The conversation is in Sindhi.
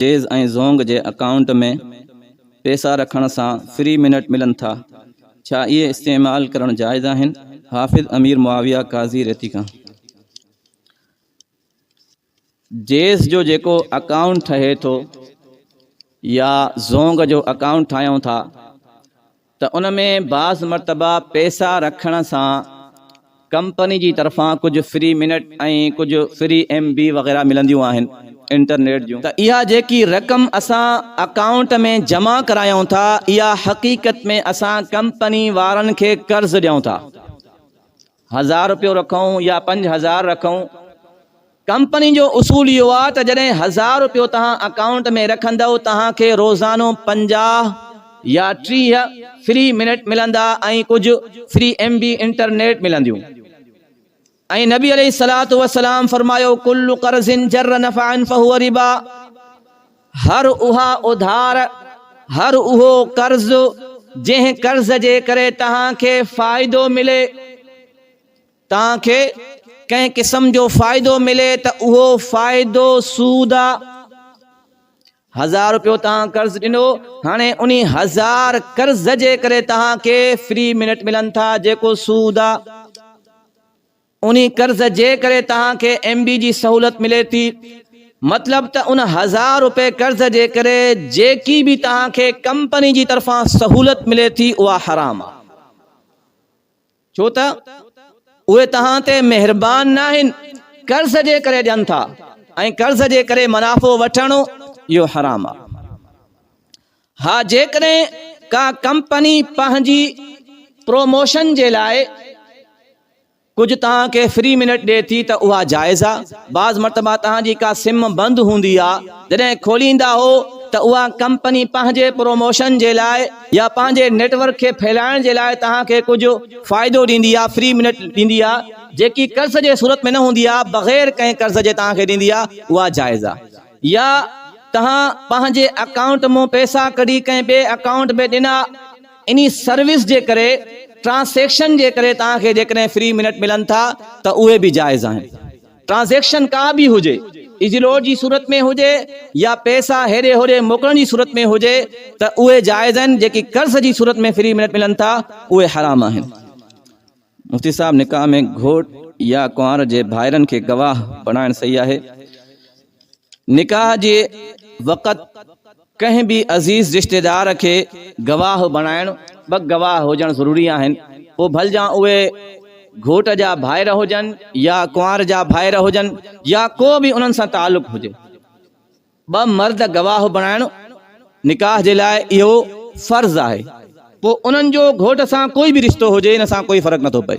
جيز ۽ زونگ جي اڪائونٽ ۾ پيسا رکڻ سان فري منٽ ملن ٿا ڇا اهي استعمال ڪرڻ جائز آهن حافظ امير معاويه قاضي ريتي کان جيز جو جيڪو اڪائونٽ ٺهي ٿو يا زونگ جو اڪائونٽ ٺاهيون ٿا ته ان ۾ بعض مرتبا پئسا رکڻ سان ڪمپني جي طرفان ڪجهه فري منٽ ۽ ڪجهه فري ايم بي وغيره ملنديون آهن انٽرنيٽ جون ته اها جيڪي رقم اسان اڪائونٽ ۾ جمع ڪرايون ٿا اها حقيقت ۾ اسان ڪمپني وارن کي قرض ڏيون ٿا. هزار رپيو رکون يا پنج هزار رکون ڪمپني جو اصول اهو آهي ته جڏهن هزار رپيو توهان اڪائونٽ ۾ رکندؤ توهان کي روزانو پنجاهه يا ٽيهه فري منٽ ملندا ۽ ڪجهه فري ايم بي انٽرنيٽ ملنديون ۽ نبي عليه الصلوة والسلام فرمايو ڪل قرض جر نفعا فهو ربا هر اها اڌار، هر اهو قرض، جنهن قرض جي ڪري توهان کي فائدو ملي، توهان کي ڪنهن قسم جو فائدو ملي ته اهو فائدو سود آ. هزار روپيو توهان قرض ڏنو، هاڻي انهي هزار قرض جي ڪري توهان کي فري منٽ ملن ٿا جيڪو سود آ. ان قرض جي ڪري توهان کي ايم ڊي جي سهولت ملي ٿي. مطلب ته ان هزار روپيه قرض جي ڪري جيڪي به توهان کي ڪمپني جي طرفان سهولت ملي ٿي اها حرام آهي. ڇو ته اهي توهان تي مهربان ناهن قرض جي ڪري ڏين ٿا ۽ قرض جي ڪري منافعو وٺڻ اهو حرام آهي. ها جيڪڏهن ڪا ڪمپني پنهنجي پروموشن جي لاء ڪجهه توهان کي فري منٽ ڏي ٿي ته اها جائز آ بعض مرتبا توهان جي ڪا سم بند هوندي آ جڏهن کوليندا هو ته اها ڪمپني پنهنجي پروموشن جي لاء يا پنهنجي نيٽ ورڪ کي ڦهلائڻ جي لاء توهان کي ڪجهه فائدو ڏيندي آ فري منٽ ڏيندي آ جيڪي قرض جي صورت ۾ نه هوندي آ بغير ڪنهن قرض جي توهان کي ڏيندي آ اها جائز آ. يا توهان پنهنجي اڪائونٽ مون پئسا ڪڍي ڪنهن ٻئي اڪائونٽ ۾ ڏنا انهي سروس جي ڪري ٽرانسيڪشن جي ڪري توهان کي جيڪڏهن فري منٽ ملن ٿا ته اهي به جائز آهن ٽرانزيڪشن ڪا به هجي ايزي لوڊ جي صورت ۾ هجي يا پئسا هيڏي هوڏي موڪلڻ جي صورت ۾ هجي ته اهي جائز آهن جيڪي قرض جي صورت ۾ فري منٽ ملن ٿا اهي حرام آهن. مفتي صاحب نڪاح ۾ گهوٽ يا ڪنوار جي ڀائرن کي گواهه بڻائڻ صحيح آهي. نڪاح جي وقت ڪنهن به عزيز رشتيدار کي گواهه بڻائڻ ٻه گواهه هجڻ ضروري آهن پوء ڀلجان اهي گهوٽ جا ڀائر هجن يا ڪنوار جا ڀائر هجن يا ڪو به انهن سان تعلق هجي. ٻه مرد گواهه بڻائڻ نڪاح جي لاء اهو فرض آهي. پوء انهن جو گهوٽ سان ڪوئي به رشتو هجي ان سان ڪوئي فرق نٿو پئي.